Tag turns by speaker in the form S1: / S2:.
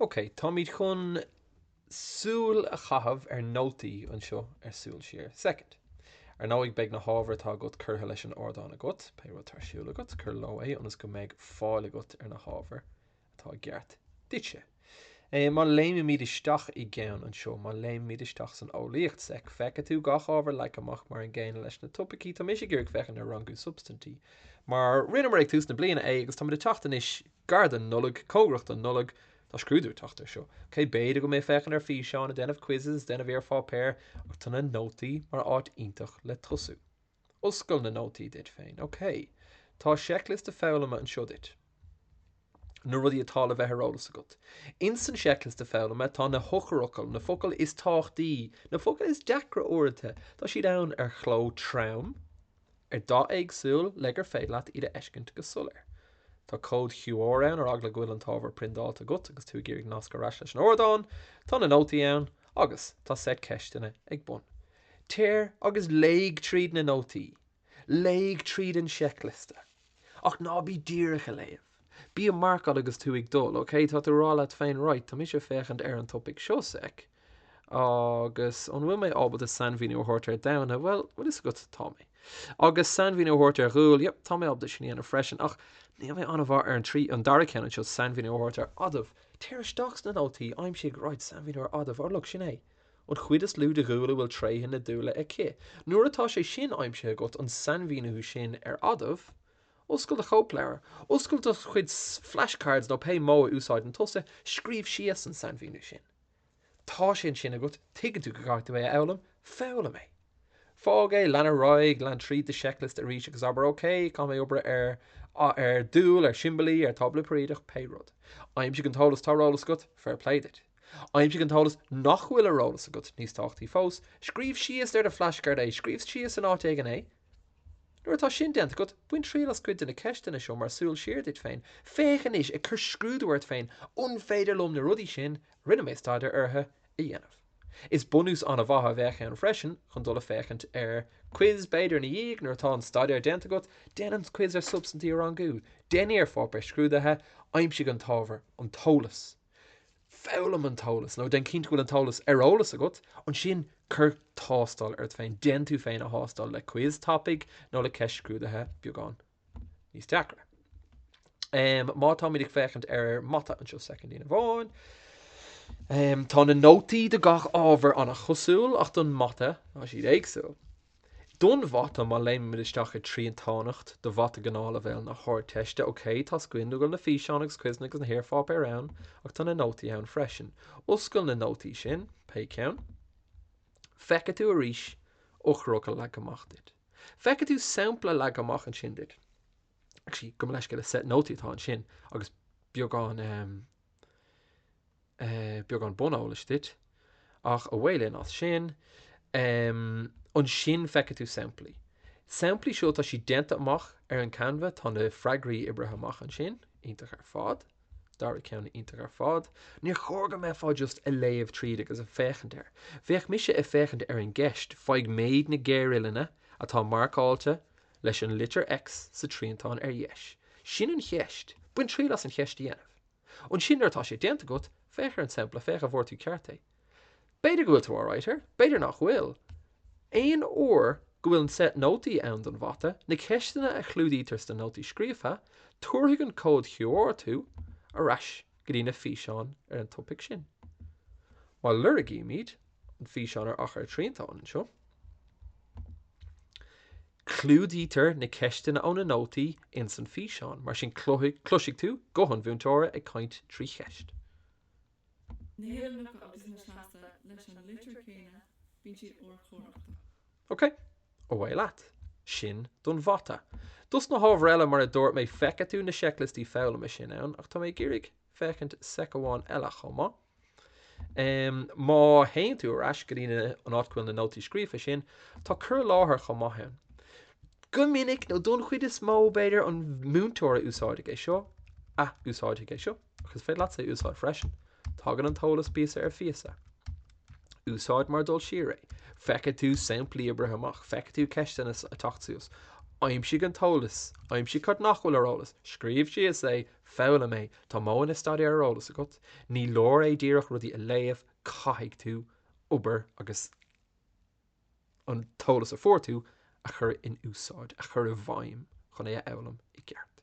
S1: OK, táimid chun súil a chaitheamh ar nótaí anseo ar Súil Siar. Soicind. Ar ndóigh, beidh na hábhair atá agat curtha leis an ardán agat. Pé rud atá ar siúl agat, cuir leo é ionas go mbeidh fáil agat ar na hábhair atá i gceart duitse. Má léimimid isteach i gceann anseo, má léimimid isteach san eolaíocht, soic, feicfidh tú gach ábhar leagtha amach mar an gcéanna leis na topaicí. Tá mise ag iarraidh féachaint ar rangú substaintí mar rinneamar é ag tús na bliana é agus táimid ag teacht anois Gar don Nollaig, Cóngarach don Nollaig, Tá scrúdú ag teacht air seo. Ok, b'fhéidir go mbeidh tú ag féachaint ar físeáin, déanamh quizzes, déanamh iarpháipéir, ach tá na nótaí mar áit iontach le tosú. Oscail na nótaí duit féin. Ok. Tá seicliosta foghlama anseo duit. Na rudaí atá le bheith ar eolas agat. Ins an seicliosta foghlama tá na heochairfhocail, na focail is tábhachtaí, na focail is deacra uaireanta. Tá siad ann ar chló trom. ar dath éagsúil le gur féidir leat iad a fheiscint go soiléir. Tá cód QR ann ar eagla go bhfuil an t-ábhar priondáilte agat agus tú ag iarraidh nascadh ar ais leis an ardán. Tá na nótaí ann agus tá set ceisteanna ag bun. Téir agus léigh tríd na nótaí. Léigh tríd an seicliosta. Ach ná bí díreach a léamh. Bí a marcáil agus tú ag dul, ok? Tá tú a rá leat féin, right, tá mise ag féachaint ar an topaic seo, sec. Agus an bhfuil mé ábalta sainmhíniú a thabhairt ar damhna? Bhuel, bhfuil fhios agat, tá mé. Agus sainmhíniú a thabhairt ar dhúil? Yep, tá mé ábalta sin a dhéanamh freisin. Ach níl mé an-mhaith ar an trí, an dara ceann anseo, sainmhíniú a thabhairt ar adamh. Téir isteach sna nótaí, aimsigh, right, sainmhíniú ar adamh. Ó look, sin é. An chuid is lú de dhúil a bhfuil tréithe na dúile aici, nuair atá sé sin aimsithe agat, an sainmhíniú sin ar adamh, oscail do chóipleabhar, oscail do chuid flashcards nó pé modh a úsáideann tusa, scríobh síos an sainmhíniú sin. Tá sé ansin agat, tuigeann tú go gcaithfidh tú é a fhoghlaim, foghlaim é. Fág é, lean ar aghaidh, lean tríd do checklist arís agus abair OK, caithfidh mé obair ar, ar, dúil, ar, siombailí, ar, tábla peiriadach, pé rud. Aimsigh an t-eolas, tá ar eolas agat, fair play duit. Aimsigh an t-eolas nach bhfuil ar eolas agat níos tábhachtaí fós, scríobh síos ar do flashcard é, scríobh síos in áit éigin é. Nuair atá sin déanta agat, bain triail as cuid de na ceisteanna seo mar súil siar duit féin. Féach anois, ag cur scrúdú ort féin, an féidir liom na rudaí sin a rinne mé staidéar orthu a dhéanamh? Is bunús an-mhaith a bheadh ann freisin chun dul ag féachaint ar quiz b'fhéidir ina dhiaidh nuair atá an staidéar déanta agat, déan an quiz ar substaintí a rangú, déan iarpháipéar scrúdaithe, aimsigh an t-ábhar, an t-eolas. Foghlaim an t-eolas, nó déan cinnte go bhfuil an t-eolas ar eolas agat, ansin cuir tástáil ort féin. Déan tú féin a thástáil le quiz tapaidh nó le ceist scrúdaithe beagán níos deacra. Má táimid ag féachaint ar mata anseo soicindín amháin, tá na nótaí do gach ábhar an-chosúil ach don mata tá siad éagsúil. Don mhata, má léimimid isteach ar triantánacht do mhata gnáthleibhéal na hArdteiste, ok, tá cinnte go bhfuil na físeáin agus quizeanna agus na hiarpháipéir ann, ach tá na nótaí ann freisin. Oscail na nótaí sin, pé ceann. Feicfidh tú arís eochracha leagtha amach duit. Feicfidh tú sampla leagtha amach ansin duit. Actually, gabh mo leithscéal, is set nótaí atá ansin, agus beagán, eh, beagán buneolais duit, ach away linn as sin. Um, ansin feicfidh tú samplaí. Samplaí seo, tá siad déanta amach ar an Canva, tá na freagraí oibrithe amach ansin, iontach ar fad. Dara ceann iontach ar fad. Níor chóir go mbeifeá just ag léamh tríd agus ag féachaint air. Bheadh mise ag féachaint ar an gceist, faigh méid na géaruillinne atá marcáilte leis an litir X sa triantán ar dheis. Sin an cheist. Bain triail as an cheist a dhéanamh. Ansin nuair atá sé déanta agat, féach ar an sampla, féach an bhfuair tú ceart é. B'fhéidir go bhfuil tú alright air, b'fhéidir nach bhfuil. Aon uair go bhfuil an set nótaí ann don mhata, na ceisteanna a chlúdaítear sna nótaí scríofa, tabharfaidh an cód QR tú ar ais go dtí na físeáin ar an topaic sin. Má lorgaímid an físeán ar achar triantáin anseo, Clúdaítear na ceisteanna ó na nótaí ins an físeán, mar sin cloisfidh tú guth an mhúinteora ag caint trí cheist. OK, away leat. Sin don Mhata. Dos na hábhair eile, mar a dúirt mé, feicfidh tú na seicliostaí foghlama sin ann, ach tá mé ag iarraidh féachaint seic amháin eile chomh maith. Má théann tú ar ais go dtí an áit go bhfuil na nótaí scríofa sin, tá cur i láthair chomh maith ann. Go minic, nó don chuid is mó, b'fhéidir, an múinteoir a úsáideadh é seo, a úsáideadh é seo, ach is féidir leatsa é a úsáid freisin. Tagann an t-eolas píosa ar phíosa. Úsáid mar dul siar é. Feicfidh tú samplaí oibrithe amach, feicfidh tú ceisteanna ag teacht suas. Aimsigh an t-eolas, aimsigh cad nach bhfuil ar eolas, scríobh síos é, foghlaim é, Tá modhanna staidéir ar eolas agat, ní leor é díreach rudaí a léamh, caithfidh tú obair agus an t-eolas a fuair tú a chur in úsáid, a chur i bhfeidhm chun é a fhoghlaim i gceart.